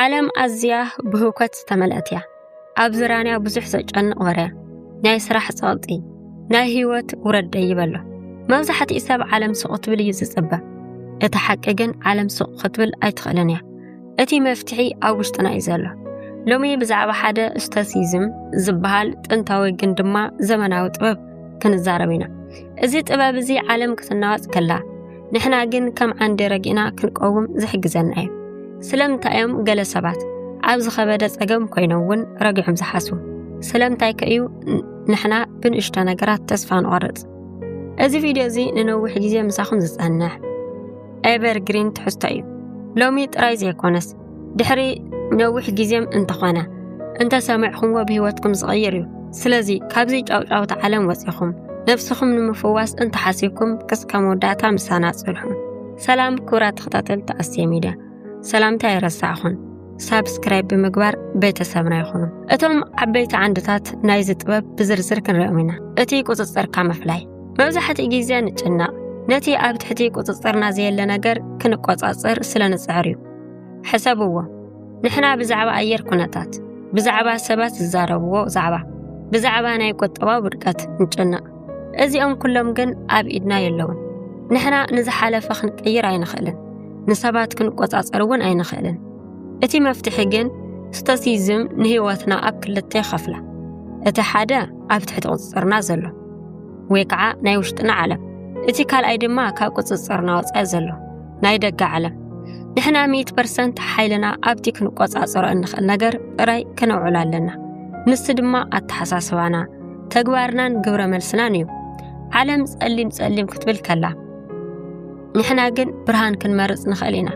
ዓለም ኣዝያ ብህውከት ዝተመልአት እያ ኣብ ዝራንያ ብዙሕ ዘጨንቕ ወርያ ናይ ስራሕ ጸቕጢ ናይ ህይወት ውረድ ደይብ ኣሎ መብዛሕትኡ ሰብ ዓለም ሱቕ ክትብል እዩ ዝጽበ እቲ ሓቂ ግን ዓለም ሱቕ ክትብል ኣይትኽእልን እያ እቲ መፍትሒ ኣብ ውሽጥና እዩ ዘሎ ሎሚ ብዛዕባ ሓደ ስቶሲዝም ዝበሃል ጥንታዊ ግን ድማ ዘመናዊ ጥበብ ክንዛረብ ኢና እዚ ጥበብ እዚ ዓለም ክትናወጽ ከላ ንሕና ግን ከም ዓንዲ ረጊእና ክንቀውም ዝሕግዘና እዩ ስለምንታይ እዮም ገለ ሰባት ኣብ ዝኸበደ ጸገም ኮይኖም እውን ረጊዖም ዝሓስቡ ስለምንታይ ከ እዩ ንሕና ብንእሽቶ ነገራት ተስፋ ንቆርጽ እዚ ቪድዮ እዚ ንነዊሕ ግዜ ምሳኹም ዝጸንሕ ኤቨርግሪን ትሕዝቶ እዩ ሎሚ ጥራይ ዘይኮነስ ድሕሪ ነዊሕ ግዜም እንተኾነ እንተሰምዕኹምዎ ብህይወትኩም ዝቐይር እዩ ስለዚ ካብዚ ጫውጫውታ ዓለም ወፂኹም ነፍስኹም ንምፍዋስ እንተሓሲብኩም ክስከ መወዳእታ ምሳና ፅንሑ ሰላም ክቡራት ተኸታተልቲ ኣስቴ ሚድያ ሰላምታ የረሳዕኹን ሳብስክራይብ ብምግባር ቤተሰብና ይኹኑ እቶም ዓበይቲ ዓንድታት ናይዚ ጥበብ ብዝርዝር ክንሪኦም ኢና እቲ ቁፅፅርካ ምፍላይ መብዛሕትኡ ግዜ ንጭነቕ ነቲ ኣብ ትሕቲ ቁፅፅርና ዘየለ ነገር ክንቆፃፅር ስለ ንፅዕር እዩ ሕሰብዎ ንሕና ብዛዕባ ኣየር ኩነታት ብዛዕባ ሰባት ዝዛረብዎ ዛዕባ ብዛዕባ ናይ ቁጠባ ውድቀት ንጨነቕ እዚኦም ኩሎም ግን ኣብ ኢድና የለውን ንሕና ንዝሓለፈ ክንቅይር ኣይንኽእልን ንሰባት ክንቆጻጸር እውን ኣይንኽእልን እቲ መፍትሒ ግን ስቶሲዝም ንህይወትና ኣብ ክልተ ይኸፍላ እቲ ሓደ ኣብ ትሕቲ ቁፅፅርና ዘሎ ወይ ከዓ ናይ ውሽጥና ዓለም እቲ ካልኣይ ድማ ካብ ቁፅፅርና ወፃኢ ዘሎ ናይ ደገ ዓለም ንሕና ሚእት ፐርሰንት ሓይልና ኣብቲ ክንቆጻጸሮ እንኽእል ነገር ጥራይ ከነውዕሎ ኣለና ንሱ ድማ ኣተሓሳስባና ተግባርናን ግብረ መልስናን እዩ ዓለም ጸሊም ጸሊም ክትብል ከላ ንሕና ግን ብርሃን ክንመርጽ ንኽእል ኢና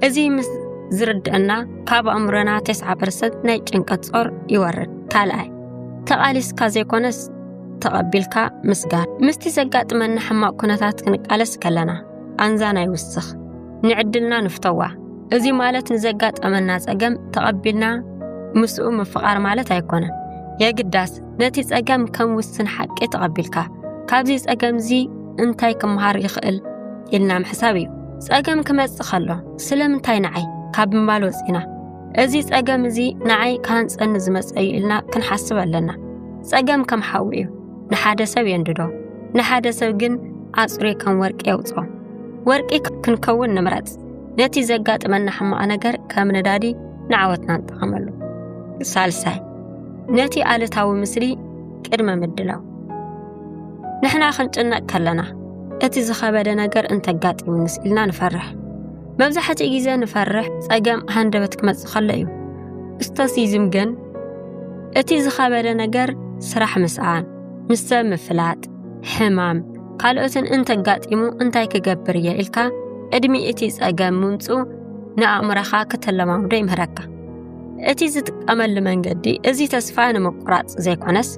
እዚ ምስ ዝርድአና ካብ ኣእምሮና 9 ፐርሰንት ናይ ጭንቀት ጾር ይወርድ ካልኣይ ተቓሊስካ ዘይኮነስ ተቐቢልካ ምስጋር ምስቲ ዘጋጥመና ሕማቕ ኩነታት ክንቃለስ ከለና ቃንዛና ይውስኽ፣ ንዕድልና ንፍተዋ። እዚ ማለት ንዘጋጠመና ጸገም ተቐቢልና ምስኡ ምፍቓር ማለት ኣይኮነን። የግዳስ ነቲ ጸገም ከም ውስን ሓቂ ተቐቢልካ ካብዚ ጸገምዚ እንታይ ክምሃር ይኽእል ኢልና ምሕሳብ እዩ። ጸገም ክመጽእ ከሎ ስለምንታይ ንዓይ ካብ ምባል ወጺና እዚ ጸገም እዚ ንዓይ ክሃንጸኒ ዝመጸ እዩ ኢልና ክንሓስብ ኣለና። ጸገም ከም ሓዊ እዩ። ንሓደ ሰብ የንድዶ፣ ንሓደ ሰብ ግን ኣጽሪ ከም ወርቂ የውጾ። ወርቂ ክንከውን ንምረጽ። ነቲ ዘጋጥመና ሕማቕ ነገር ከም ነዳዲ ንዓወትና ንጠቐመሉ። ሳልሳይ ነቲ ኣሉታዊ ምስሊ ቅድመ ምድላው። ንሕና ክንጭነቕ ከለና እቲ ዝኸበደ ነገር እንተጋጢሙንስ ኢልና ንፈርሕ። መብዛሕትኡ ግዜ ንፈርሕ ጸገም ሃንደበት ክመጽእ ከሎ እዩ። ስቶሲዝም ግን እቲ ዝኸበደ ነገር ስራሕ ምስኣን፣ ምስ ሰብ ምፍላጥ፣ ሕማም ካልኦትን እንተጋጢሙ እንታይ ክገብር እየ ኢልካ ቅድሚ እቲ ጸገም ምምጽኡ ንኣእምሮኻ ክተለማምዶ ይምህረካ። እቲ ዝጥቀመሉ መንገዲ እዚ ተስፋ ንምቁራጽ ዘይኮነስ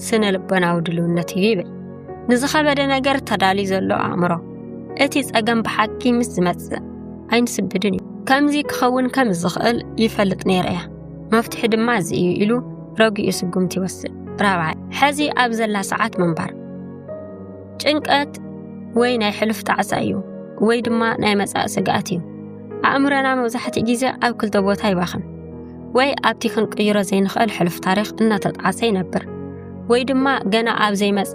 ስነ ልቦናዊ ድልውነት እዩ ይብል ንዝኸበደ ነገር ተዳልዩ ዘሎ ኣእምሮ። እቲ ጸገም ብሓቂ ምስ ዝመጽእ ኣይንስድድን እዩ ከምዚ ክኸውን ከም ዝኽእል ይፈልጥ ነይረ እያ መፍትሒ ድማ እዚ እዩ ኢሉ ረጒኡ ስጉምቲ ይወስድ ራብዓይ ሕዚ ኣብ ዘላ ሰዓት ምንባር ጭንቀት ወይ ናይ ሕሉፍ ጣዕሳ እዩ ወይ ድማ ናይ መጻኢ ስግኣት እዩ ኣእምሮና መብዛሕትኡ ግዜ ኣብ ክልተ ቦታ ይባኽን ወይ ኣብቲ ክንቅይሮ ዘይንኽእል ሕሉፍ ታሪኽ እናተጣዕሰ ይነብር ወይ ድማ ገና ኣብ ዘይመጸ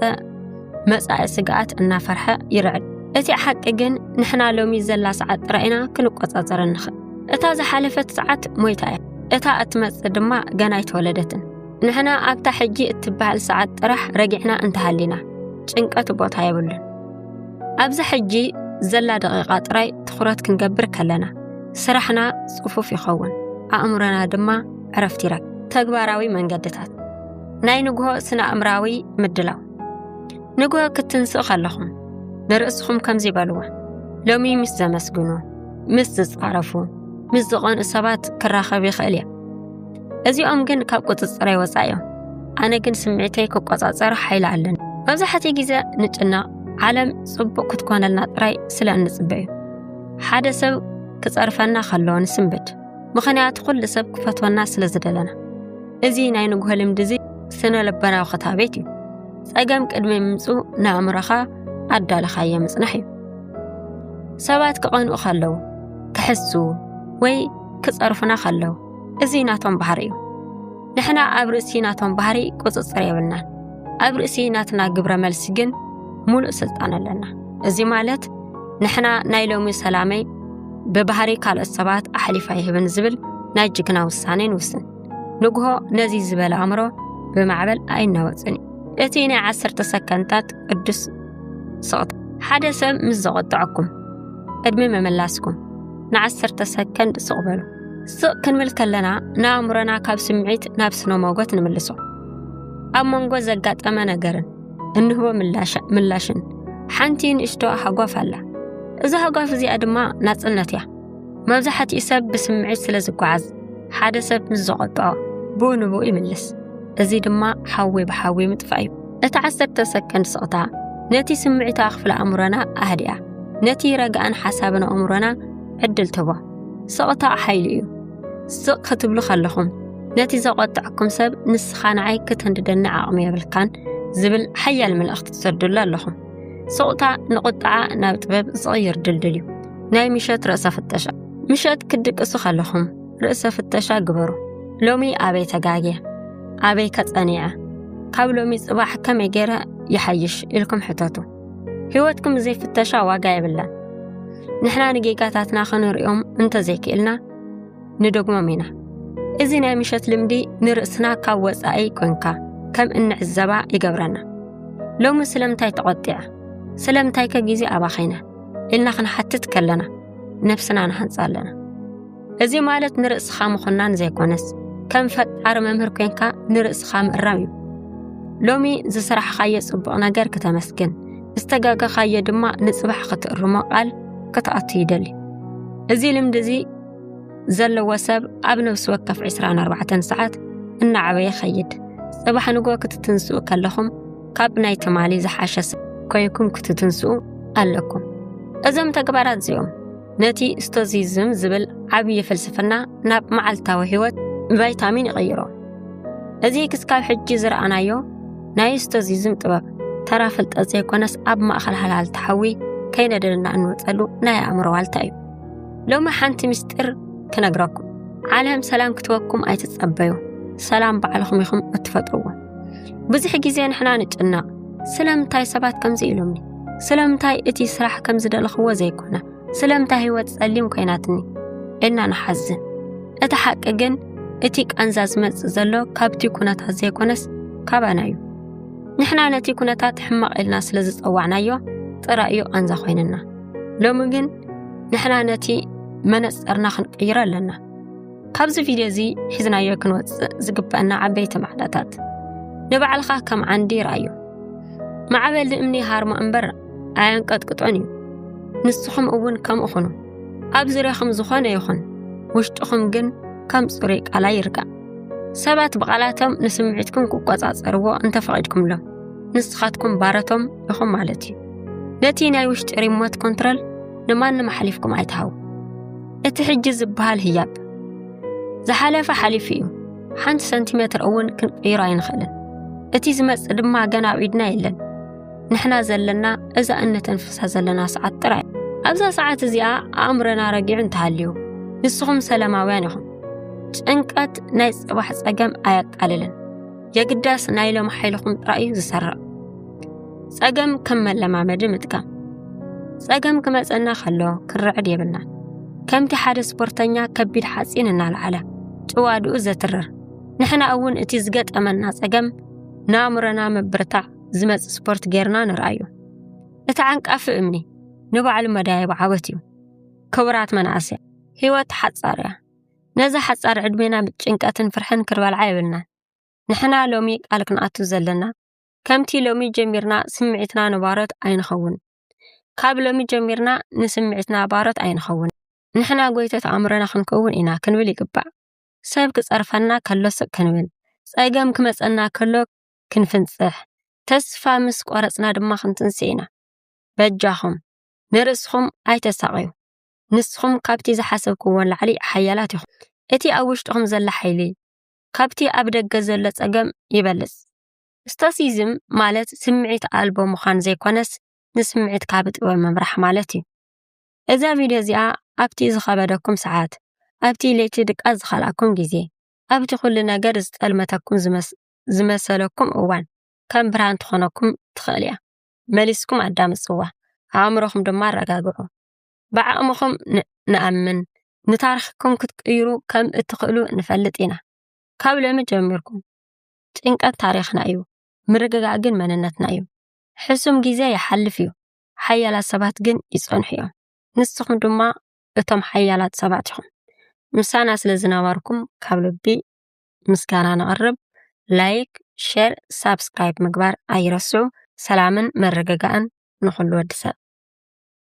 መጻኢ ስግኣት እናፈርሐ ይርዕድ እቲ ሓቂ ግን ንሕና ሎሚ ዘላ ሰዓት ጥራይ ኢና ክንቆጻጸረ ንኽእል እታ ዝሓለፈት ሰዓት ሞይታ እያ እታ እትመጽእ ድማ ገና ኣይተወለደትን ንሕና ኣብታ ሕጂ እትበሃል ሰዓት ጥራሕ ረጊዕና እንተሃሊና ጭንቀት ቦታ የብሉን ኣብዚ ሕጂ ዘላ ደቂቓ ጥራይ ትኹረት ክንገብር ከለና ስራሕና ጽፉፍ ይኸውን ኣእምሮና ድማ ዕረፍቲ ይረክብ ተግባራዊ መንገድታት ናይ ንግሆ ስነ ኣእምራዊ ምድላው ንግሆ ክትንስእ ከለኹም ንርእስኹም ከምዚ በልዎ ሎሚ ምስ ዘመስግኑ ምስ ዝጻረፉ ምስ ዝቐንኡ ሰባት ክራኸብ ይኽእል እየ እዚኦም ግን ካብ ቁፅፅረይ ወፃእ እዮም ኣነ ግን ስምዒተይ ክቆፃፀር ሓይሊ ኣለኒ መብዛሕትኡ ግዜ ንጭነቕ ዓለም ጽቡቕ ክትኮነልና ጥራይ ስለ እንጽበ እዩ ሓደ ሰብ ክጸርፈና ከሎ ንስንብድ ምኽንያቱ ኩሉ ሰብ ክፈትወና ስለ ዝደለና እዚ ናይ ንግሆ ልምዲ እዚ ስነ ልበናዊ ክታቤት እዩ ጸገም ቅድሚ ምምፁ ንኣእምሮኻ ኣዳለኻዮ ምጽናሕ እዩ ሰባት ክቐንኡ ከለዉ ክሕሱ ወይ ክጸርፉና ከለዉ እዚ ናቶም ባህሪ እዩ ንሕና ኣብ ርእሲ ናቶም ባህሪ ቁፅፅር የብልናን። ኣብ ርእሲ ናትና ግብረ መልሲ ግን ሙሉእ ስልጣን ኣለና። እዚ ማለት ንሕና ናይ ሎሚ ሰላመይ ብባህሪ ካልኦት ሰባት ኣሕሊፋ ይህብን ዝብል ናይ ጅግና ውሳኔ ንውስን። ንግሆ ነዚ ዝበለ ኣእምሮ ብማዕበል ኣይናወፅን እዩ። እቲ ናይ ዓሰርተ ሰከንታት ቅዱስ ስቕታ ሓደ ሰብ ምስ ዘቖጥዐኩም ቅድሚ ምምላስኩም ንዓሰርተ ሰከንድ ስቕ በሉ። ስቕ ክንብል ከለና ንኣእምሮና ካብ ስምዒት ናብ ስነ ሞጎት ንምልሶ ኣብ መንጎ ዘጋጠመ ነገርን እንህቦ ምላሽን ሓንቲ ንእሽቶ ሃጓፍ ኣላ እዛ ሃጓፍ እዚኣ ድማ ናጽነት እያ መብዛሕትኡ ሰብ ብስምዒት ስለ ዝጓዓዝ ሓደ ሰብ ምስ ዘቖጥዖ ብኡ ንብኡ ይምልስ እዚ ድማ ሓዊ ብሓዊ ምጥፋእ እዩ እቲ ዓሰርተ ሰከንድ ስቕታ ነቲ ስምዒታዊ ክፍሊ ኣእምሮና ኣህድያ ነቲ ረግኣን ሓሳብን ኣእምሮና ዕድል ትህቦ ስቕታ ሓይሊ እዩ። ስቕ ክትብሉ ከለኹም ነቲ ዘቖጥዐኩም ሰብ ንስኻ ንዓይ ክትንድደኒ ዓቕሚ የብልካን ዝብል ሓያል መልእኽቲ ትሰዱሉ ኣለኹም። ስቕታ ንቑጥዓ ናብ ጥበብ ዝቕይር ድልድል እዩ። ናይ ምሸት ርእሰ ፍተሻ ምሸት ክትድቅሱ ከለኹም ርእሰ ፍተሻ ግበሩ። ሎሚ ኣበይ ተጋግየ? ኣበይ ከጸኒዐ? ካብ ሎሚ ጽባሕ ከመይ ገይረ ይሓይሽ ኢልኩም ሕተቱ። ህይወትኩም ዘይፍተሻ ዋጋ የብላን ንሕና ንጌጋታትና ክንርእዮም እንተዘይክእልና ንደግሞም ኢና እዚ ናይ ምሸት ልምዲ ንርእስና ካብ ወፃኢ ኮንካ ከም እንዕዘባ ይገብረና ሎሚ ስለምንታይ ተቖጢዐ ስለምንታይ ከ ግዜ ኣባኺነ ኢልና ክንሓትት ከለና ነፍስና ንሃንፃ ኣለና እዚ ማለት ንርእስኻ ምኹናን ዘይኮነስ ከም ፈጣሪ መምህር ኮንካ ንርእስኻ ምእራም እዩ ሎሚ ዝስራሕኻዮ ጽቡቕ ነገር ክተመስግን ዝተጋገኻዮ ድማ ንጽባሕ ክትእርሞ ቃል ክትኣቱ ይደሊ እዚ ልምዲ እዚ ዘለዎ ሰብ ኣብ ነብሲ ወከፍ 24 ሰዓት እናዓበየ ይኸይድ ጽባሕ ንጎ ክትትንስኡ ከለኹም ካብ ናይ ትማሊ ዝሓሸ ኮይኩም ክትትንስኡ ኣለኩም እዞም ተግባራት እዚኦም ነቲ ስቶዚዝም ዝብል ዓብዪ ፍልስፍና ናብ መዓልታዊ ህይወት ቫይታሚን ይቕይሮ እዚ ክስካብ ሕጂ ዝረኣናዮ ናይ ስቶዚዝም ጥበብ ተራ ፍልጠት ዘይኮነስ ኣብ ማእኸል ሃልሃል ተሓዊ ከይነደልና እንወፀሉ ናይ ኣእምሮ ዋልታ እዩ ሎሚ ሓንቲ ምስጢር ክነግረኩም ዓለም ሰላም ክትወኩም ኣይትጸበዩ ሰላም ባዕልኹም ኢኹም እትፈጥርዎ ብዙሕ ግዜ ንሕና ንጭነቕ ስለምንታይ ሰባት ከምዚ ኢሎምኒ ስለምንታይ እቲ ስራሕ ከም ዝደለኽዎ ዘይኮነ ስለምንታይ ህይወት ጸሊም ኮይናትኒ ኢልና ንሓዝን እቲ ሓቂ ግን እቲ ቃንዛ ዝመጽእ ዘሎ ካብቲ ኩነታት ዘይኮነስ ካባና እዩ ንሕና ነቲ ኩነታት ሕማቕ ኢልና ስለ ዝጸዋዕናዮ ጥራይ እዩ ቃንዛ ኮይንና ሎሚ ግን ንሕና ነቲ መነጽርና ክንቅይሮ ኣለና ካብዚ ቪድዮ እዚ ሒዝናዮ ክንወፅእ ዝግበአና ዓበይቲ ማዕዳታት ንባዕልኻ ከም ዓንዲ ይርኣዩ ማዕበል ንእምኒ ሃርሞ እምበር ኣየንቀጥቅጦን እዩ ንስኹም እውን ከምኡ ኹኑ ኣብ ዙርያኹም ዝኾነ ይኹን ውሽጥኹም ግን ከም ፅሩይ ቃላ ይርጋእ ሰባት ብቓላቶም ንስምዒትኩም ክቆፃፀርዎ እንተፈቒድኩምሎም ንስኻትኩም ባረቶም ኢኹም ማለት እዩ ነቲ ናይ ውሽጢ ሪሞት ኮንትረል ንማንም ኣሕሊፍኩም ኣይትሃቡ እቲ ሕጂ ዝበሃል ህያብ ዝሓለፈ ሓሊፉ እዩ ሓንቲ ሰንቲሜትር እውን ክንቅይሮ ኣይንኽእልን እቲ ዝመጽእ ድማ ገና ኣብ ኢድና የለን ንሕና ዘለና እዛ እነተንፍሳ ዘለና ሰዓት ጥራይ ኣብዛ ሰዓት እዚኣ ኣእምሮና ረጊዑ እንተሃልዩ ንስኹም ሰላማውያን ኢኹም ጭንቀት ናይ ጽባሕ ጸገም ኣያቃልልን የግዳስ ናይ ሎም ሓይልኹም ጥራይ እዩ ዝሰርቕ ጸገም ከም መለማመዲ ምጥቃም ጸገም ክመጸና ከሎ ክርዕድ የብልና ከምቲ ሓደ ስፖርተኛ ከቢድ ሓፂን እናልዓለ ጭዋድኡ ዘትርር ንሕና እውን እቲ ዝገጠመና ጸገም ንኣእምሮና ምብርታዕ ዝመጽእ ስፖርት ጌርና ንርኣዩ እቲ ዓንቃፊ እምኒ ንባዕሉ መዳየብ ዓወት እዩ ክቡራት መናእሰያ ህይወት ሓጻር እያ ነዛ ሓጻር ዕድሜና ብጭንቀትን ፍርሕን ክርበልዓ የብልናን። ንሕና ሎሚ ቃል ክንኣቱ ዘለና ከምቲ ሎሚ ጀሚርና ስምዒትና ንባሮት ኣይንኸውን። ካብ ሎሚ ጀሚርና ንስምዒትና ባሮት ኣይንኸውን። ንሕና ጎይተት ኣእምሮና ክንከውን ኢና ክንብል ይግባእ። ሰብ ክጸርፈና ከሎ ስቅ ክንብል፣ ጸገም ክመጸና ከሎ ክንፍንጽሕ፣ ተስፋ ምስ ቆረጽና ድማ ክንትንስእ ኢና። በጃኹም ንርእስኹም ኣይተሳቐዩ። ንስኹም ካብቲ ዝሓሰብኩዎ ላዕሊ ሓያላት ኢኹም። እቲ ኣብ ውሽጥኹም ዘሎ ሓይሊ፣ ካብቲ ኣብ ደገ ዘሎ ጸገም ይበልጽ። ስቶሲዝም ማለት ስምዒት ኣልቦ ምዃን ዘይኮነስ ንስምዒት ካብ ጥበብ ምምራሕ ማለት እዩ። እዛ ቪድዮ እዚኣ ኣብቲ ዝኸበደኩም ሰዓት፣ ኣብቲ ለይቲ ድቃስ ዝኸልኣኩም ግዜ፣ ኣብቲ ኩሉ ነገር ዝጠልመተኩም ዝመሰለኩም እዋን ከም ብርሃን ትኾነኩም ትኽእል እያ። መሊስኩም ኣዳምጽዋ፣ ኣእምሮኹም ድማ ኣረጋግዑ። ብዓቕምኹም ንኣምን፣ ንታሪኽኩም ክትቅይሩ ከም እትኽእሉ ንፈልጥ ኢና። ካብ ሎሚ ጀሚርኩም፣ ጭንቀት ታሪኽና እዩ፣ ምርግጋእ ግን መንነትና እዩ። ሕሱም ግዜ ይሓልፍ እዩ፣ ሓያላት ሰባት ግን ይጸንሑ እዮም። ንስኹም ድማ እቶም ሓያላት ሰባት ኢኹም። ምሳና ስለ ዝነበርኩም ካብ ልቢ ምስጋና ነቕርብ። ላይክ፣ ሼር፣ ሳብስክራይብ ምግባር ኣይረስዑ። ሰላምን ምርግጋእን ንኹሉ ወዲ ሰብ።